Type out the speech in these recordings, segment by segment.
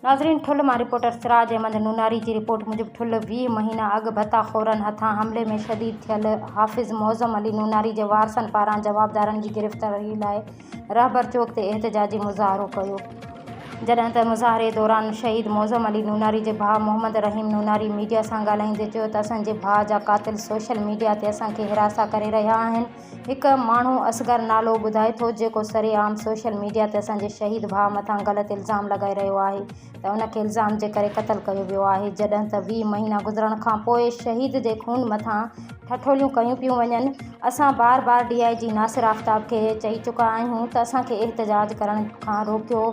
ناظرين ٺل مان رپورٽر سراج احمد نوناري جي رپورٽ موجب ٺل ويهه مهينا اڳ ڀتا خورن هٿان حملي ۾ شھيد ٿيل حافظ معظم علي نوناري جي وارثن پاران جوابدارن جي گرفتاري لاء رهبر چوڪ تي احتجاجي مظاهرو ڪيو جڏهن ته مظاهري دوران شھيد معظم علي نوناري جي ڀاء محمد رحيم نوناري ميڊيا سان ڳالهائيندي چيو ته اسان جي ڀاء جا قاتل سوشل ميڊيا تي اسان کي حراسا ڪري رهيا آهن هڪ ماڻهو اصغر نالو ٻڌائي ٿو جيڪو سري عام سوشل ميڊيا تي اسان جي شهيد ڀاء مٿان غلط الزام لڳائي رهيو آهي ته ان کي الزام جي ڪري قتل ڪيو ويو آهي جڏهن ته ويهه مهينا گذرڻ کان پوء شهيد جي خون مٿان ٺٺوليون ڪيون پيون وڃن اسان بار بار ڊي آء جي ناصر آفتاب کي چئي چڪا آهيون ته اسان کي احتجاج ڪرڻ کان روڪيو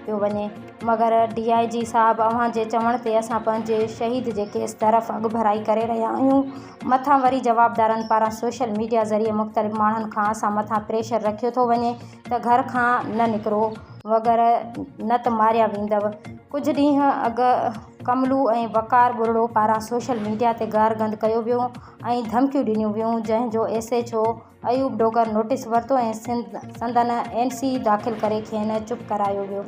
پيو وڃي مگر ڊي آء جي صاحب اوهان جي چوڻ تي اسان پنهنجي شهيد جي ڪيس طرف اڳڀرائي ڪري رهيا آهيون مٿان وري جوابدارن پاران سوشل ميڊيا ذريعي مختلف ماڻهن کان اسان مٿان پريشر رکيو ٿو وڃي ته گهر کان نه نڪرو وغيره نه ته ماريا ويندؤ ڪجهه ڏينهن اڳ ڪملو ۽ وقار ٻرڙو پاران سوشل ميڊيا تي گارگند ڪيو ويو ۽ ڌمڪيون ڏنيون ويون جنهن جو S H O Ayub Dogar notice ورتو ۽ سندن اين سي داخل ڪري کين چپ ڪرايو ويو.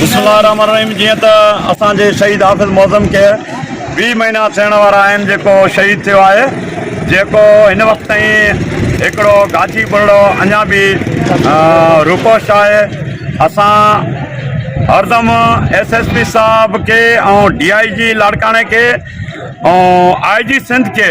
بسم الله الرحمن الرحيم جيئن ته اسان جي شهيد حافظ معظم کي ويهه مهينا ٿيڻ وارا آهن جيڪو شهيد ٿيو آهي جيڪو هن وقت تائين هڪڙو گاچي ٻرڙو اڃا به روپوش آهي اسان هردم ايس ايس پي صاحب کي ۽ ڊي آئي جي لاڙڪاڻي کي ۽ آئي جي سنڌ کي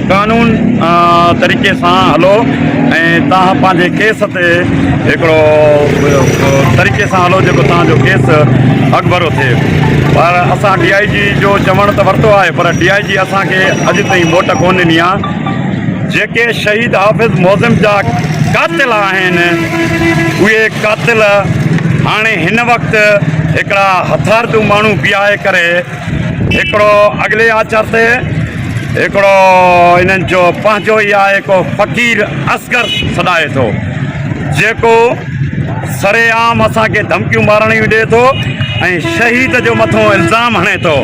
قانون طريقي سان هلو ۽ توهان پنهنجي ڪيس تي هڪڙو طريقي سان هلو جيڪو توهان جو ڪيس اڳڀرو ٿئي پر اسان ڊي آء جي جو چوڻ ته ورتو آهي پر ڊي آء جي اسان کي اڄ تائين موٽ ڪون ڏني آهي جيڪي شهيد حافظ معظم جا قاتل آهن اهي قاتل هاڻي هن وقت هڪڙا هٿارتو ماڻهو بيهائي ڪري هڪڙو اڳلي آچر تي هڪڙو انهن جو پنهنجو ئي آهي ڪو فقير اصغر سڏائي ٿو جيڪو سرعام اسان کي ڌمڪيون مارڻ جون ڏي ٿو ۽ شهيد جو مٿو الزام هڻي ٿو.